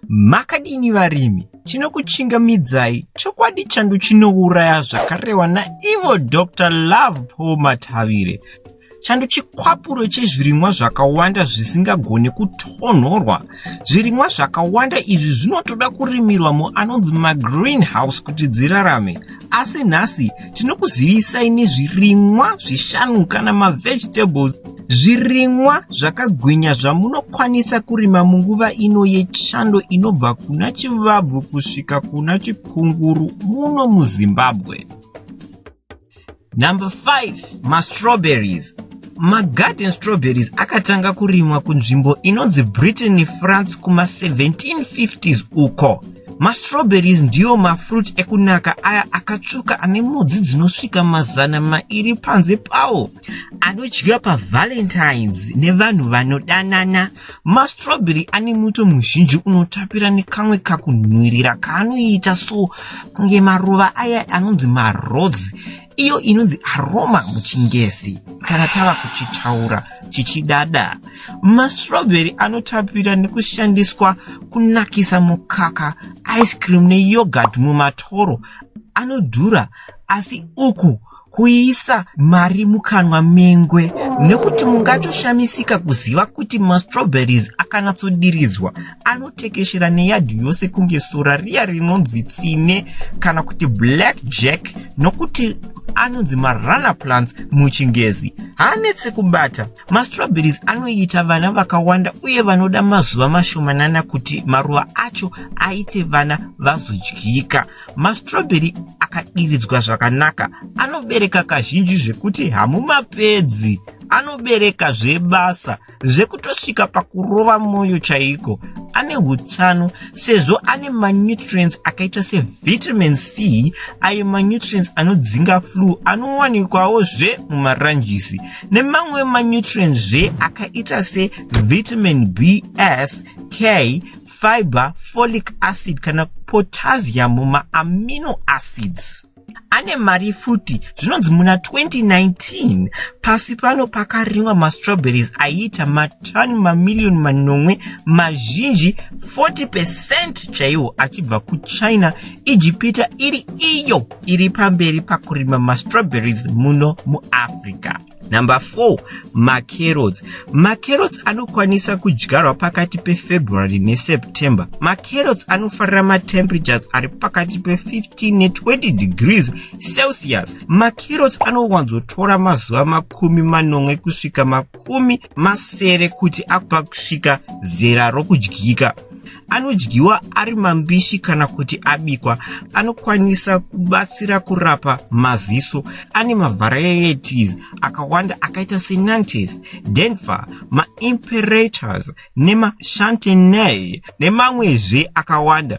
Makadini varimi, tinokuchingamidzai chokwadi chandu chinouraya zvakarewa naivo Dr Love Paul Matavire chandu chikwapuro chezvirimwa zvakawanda zvisingagone kutonhorwa zvirimwa zvakawanda izvi zvinotoda kurimirwa muanonzi magreenhouse kuti dzirarame asi nhasi tinokuzivisai nezvirimwa zvishanu kana mavegetables Zvirimwa zvakagwinya zvamunokwanisa kurima munguva ino yechando inobva kuna chivabvu kusvika kuna chikunguru muno muZimbabwe. Number 5 mastrawberries magarden strawberries akatanga kurimwa kunzvimbo inonzi britain france kuma1750s uko mastrawberries ndiyo mafruit ekunaka aya akatsvuka ane mudzi dzinosvika mazana mairi panze pawo anodyiwa pavalentines nevanhu vanodanana mastrobheri ane muto muzhinji unotapira nekamwe kakunhuirira kaanoita so kunge maruva aya anonzi marose iyo inonzi aroma muchingezi kana tava kuchitaura chichidada mastrobheri anotapira nekushandiswa kunakisa mukaka ice cream neyogurt mumatoro anodhura asi uku kuisa mari mukanwa mengwe nekuti mungatoshamisika kuziva kuti mastrawberries akanatsodiridzwa anotekeshera neyadhi yose kunge sora riya rinonzi tsine kana kuti black jack nokuti anonzi marunner plants muchingezi haanetse kubata mastrawberries anoita vana vakawanda uye vanoda mazuva mashomanana kuti maruva acho aite vana vazodyika Mastrobheri akadiridzwa zvakanaka anobereka kazhinji zvekuti hamumapedzi anobereka zvebasa zvekutosvika pakurova mwoyo chaiko ane utano sezvo ane manutrients akaita sevitamin c ayo manutrients anodzinga flu anowanikwawo zve mumaranjisi nemamwe manutrients zve akaita sevitamin bs k fiber, folic acid kana potassium mumaamino acids ane mari futi zvinonzi muna 2019 pasi pano pakarimwa mastrawberries aiita matani mamiliyoni manomwe mazhinji 40 pecent chaiwo achibva kuchina ijipita iri iyo iri pamberi pakurima mastrawberries muno muafrica Number four, macarrots. Macarrots anokwanisa kudyarwa pakati peFebruary neSeptember. Macarrots anofarira matemperatures ari pakati pe15 ne20 degrees Celsius. Macarrots anowanzotora mazuva makumi manomwe kusvika makumi masere kuti akupa kusvika zera rokudyika anodyiwa ari mambishi kana kuti abikwa anokwanisa kubatsira kurapa maziso ane mavarieties akawanda akaita senantes denver maimperators nemachantenay nemamwezve akawanda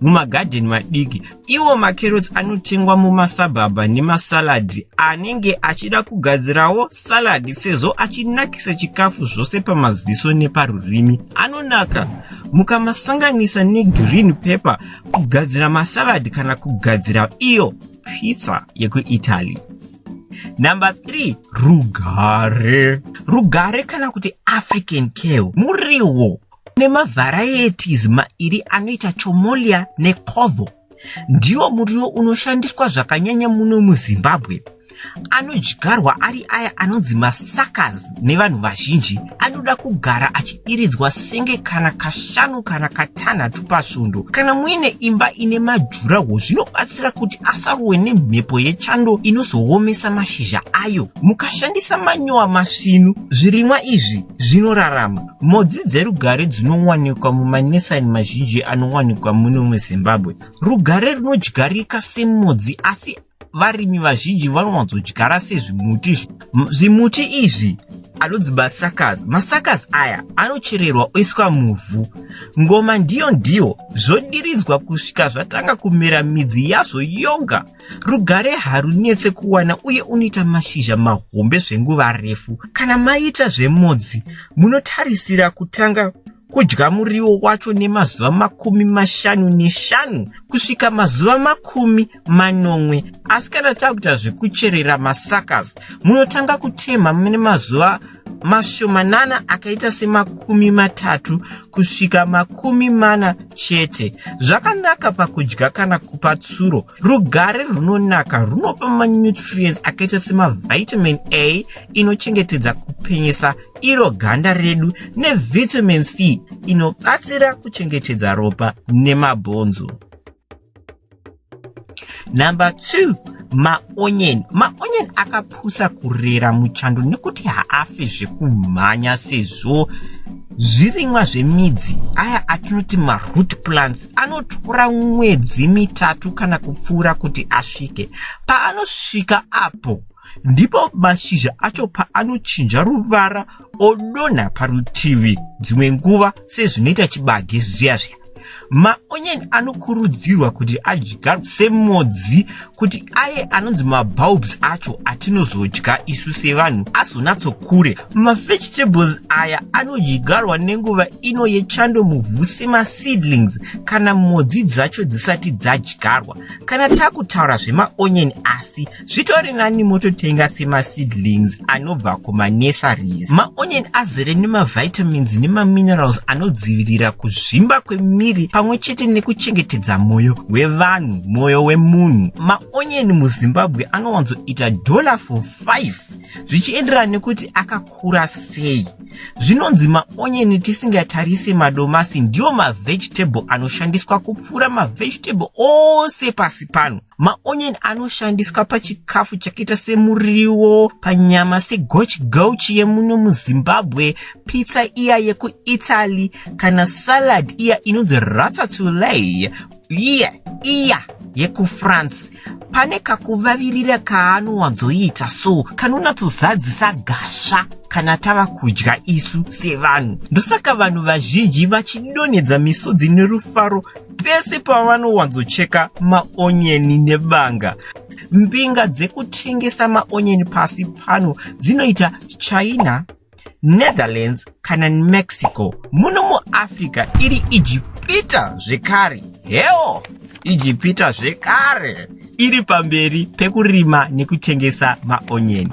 mumagadheni madiki iwo macarrots anotengwa mumasabhabha nemasaladhi anenge achida kugadzirawo saladhi sezvo achinakisa chikafu zvose pamaziso neparurimi anonaka mukamasanganisa negreen pepper kugadzira masaladhi kana kugadzira iyo pizza yekuitaly number 3 rugare rugare kana kuti african kale muriwo Kune mavarieties mairi anoita chomolia nekovo. Ndiwo muriwo unoshandiswa zvakanyanya muno muZimbabwe. Anodyarwa ari aya anonzi masakas nevanhu vazhinji. Anoda kugara achidiridzwa senge kana kashanu kana katanhatu pasvondo. Kana muine imba ine majuraho zvinobatsira kuti asarohwe nemhepo yechando inozoomesa mashizha ayo. Mukashandisa manyowa masvinu, zvirimwa izvi zvinorarama. Mhodzi dzerugare dzinowanikwa mumanesani mazhinji anowanikwa muno muzimbabwe rugare runodyarika semhodzi asi varimi vazhinji vanowanzodyara sezvimuti zvimuti izvi anonzi masakas masakas aya anochererwa oiswa muvhu ngoma ndiyo ndiyo zvodiridzwa kusvika zvatanga kumera midzi yazvo yoga Rugare harunetse kuwana uye unoita mashizha mahombe zvenguva refu. Kana maita zvemodzi, munotarisira kutanga kudya muriwo wacho nemazuva makumi mashanu neshanu kusvika mazuva makumi manomwe asi kana takuita zvekucherera masakas munotanga kutemha mune mazuva mashomanana akaita semakumi matatu kusvika makumi mana chete zvakanaka pakudya kana kupa tsuro rugare runonaka runopa manutrients akaita semavitamin a inochengetedza kupenyesa iro ganda redu nevitamin c inobatsira kuchengetedza ropa nemabhonzo number two maonyeni maonyeni akapusa kurera muchando nekuti haafe zvekumhanya sezvo zvirimwa zvemidzi aya atinoti maroot plants anotora mwedzi mitatu kana kupfuura kuti asvike paanosvika apo ndipo mashizha acho paanochinja ruvara odonha parutivi dzimwe nguva sezvinoita chibage zviya zviya maonyeni anokurudzirwa kuti adyarwe semodzi kuti aye anonzi mabulbs acho atinozodya isu sevanhu azonatsokure mavegetables aya anodyarwa nenguva ino yechando muvhu semaseedlings kana modzi dzacho dzisati dzadyarwa kana takutaura zvemaonyeni asi zvitori nani mototenga semaseedlings anobva kumanurseries maonion azere nemavitamins nemaminerals anodzivirira kuzvimba kwemiri pamwe chete nekuchengetedza mwoyo wevanhu mwoyo wemunhu maonion muzimbabwe anowanzoita dollar for 5 zvichienderana nekuti akakura sei zvinonzi maonyeni tisingatarise madomasi ndiwo mavegetable anoshandiswa kupfuura mavegetable ose pasi pano maonion anoshandiswa pachikafu chakaita semuriwo panyama segochi gauchi yemuno muzimbabwe pizza iya yekuitaly kana salad iya inonzi ratatuley iya iya yekufrance pane kakuvavirira kaanowanzoita so kanonatsozadzisa gasva kana tava kudya isu sevanhu ndosaka vanhu vazhinji vachidonhedza misodzi nerufaro pese pavanowanzocheka maonyeni nebanga mbinga dzekutengesa maonyeni pasi pano dzinoita china netherlands kana mexico muno muafrica iri ijipita zvekare heo ijipita zvekare iri pamberi pekurima nekutengesa maonyeni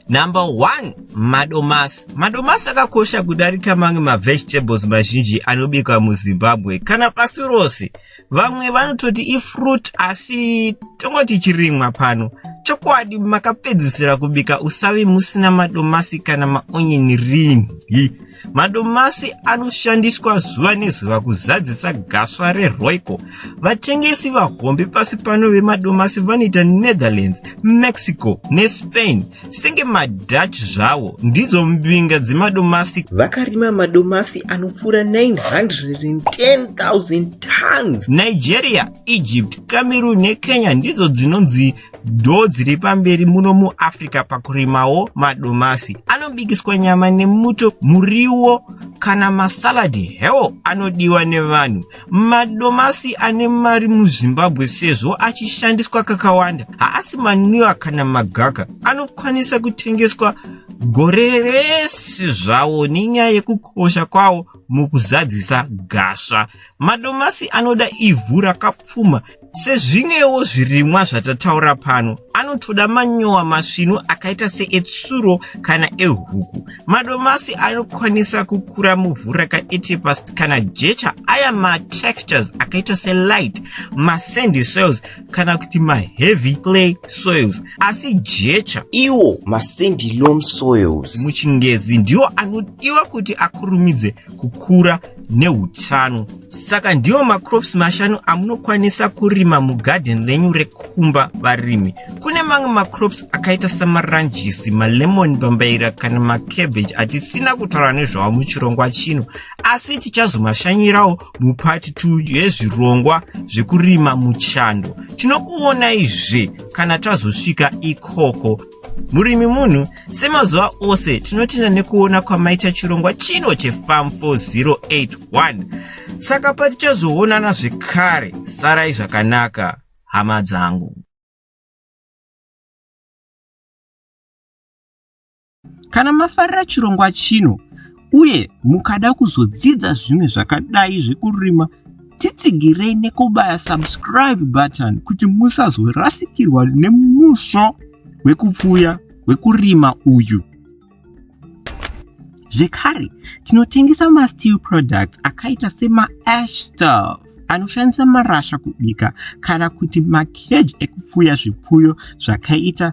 Number one, madomasi. Madomasi akakosha kudarika mamwe mavegetables mazhinji anobikwa muZimbabwe kana pasi rose. Vamwe vanototi ifruit asi tongoti chirimwa pano. Chokwadi makapedzisira kubika usavi musina madomasi kana maonyeni rinhi. Madomasi anoshandiswa zuva nezuva kuzadzisa gasva reRoyco. Vatengesi vahombe pasi pano vemadomasi vanoita Netherlands, Mexico neSpain. Senge maDutch zvawo ndidzo mbinga dzemadomasi. Vakarima madomasi anopfuura 910,000 tons. Nigeria, Egypt, Cameroon neKenya ndidzo dzinonzi dhoo dziri pamberi muno muafrica pakurimawo madomasi anobikiswa nyama nemuto muriwo kana masaladi hewo anodiwa nevanhu madomasi ane mari muzimbabwe sezvo achishandiswa kakawanda haasi manwiwa kana magaka anokwanisa kutengeswa gore rese zvawo nenyaya yekukosha kwawo mukuzadzisa gasva Madomasi anoda ivhu rakapfuma sezvimwewo zvirimwa zvatataura pano anotoda manyowa masvinu akaita seetsuro kana ehuku madomasi anokwanisa kukura muvhu rakaetepast kana jecha aya matextures akaita selight masandy soils kana kuti maheavy clay soils asi jecha iwo masandy lom soils muchingezi ndiwo anodiwa kuti akurumidze kukura neutano saka ndiwo macrops mashanu amunokwanisa kurima mugadheni renyu rekumba varimi kune mamwe macrops akaita samaranjisi malemoni bambaira kana macabbage atisina kutaura nezvawo muchirongwa chino asi tichazomashanyirawo mupati 2 yezvirongwa zvekurima muchando tinokuonaizve kana tazosvika ikoko murimi munhu semazuva ose tinotenda nekuona kwamaita chirongwa chino chefam 4081 saka patichazoonana zvekare sarai zvakanaka hama dzangu kana mafarira chirongwa chino uye mukada kuzodzidza zvimwe zvakadai zvekurima titsigirei nekubaya subscribe button kuti musazorasikirwa nemusvo wekupfuya wekurima uyu zvekare tinotengesa masteel products akaita semaash staff anoshandisa marasha kubika kana kuti makeji ekupfuya zvipfuyo zvakaita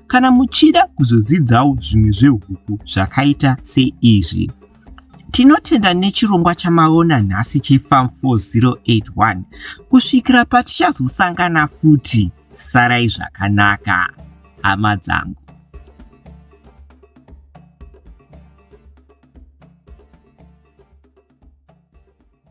kana muchida kuzodzidzawo zvimwe zvehuku zvakaita seizvi tinotenda nechirongwa chamaona nhasi chefarm 4081 kusvikira patichazosangana futi sarai zvakanaka hama dzangu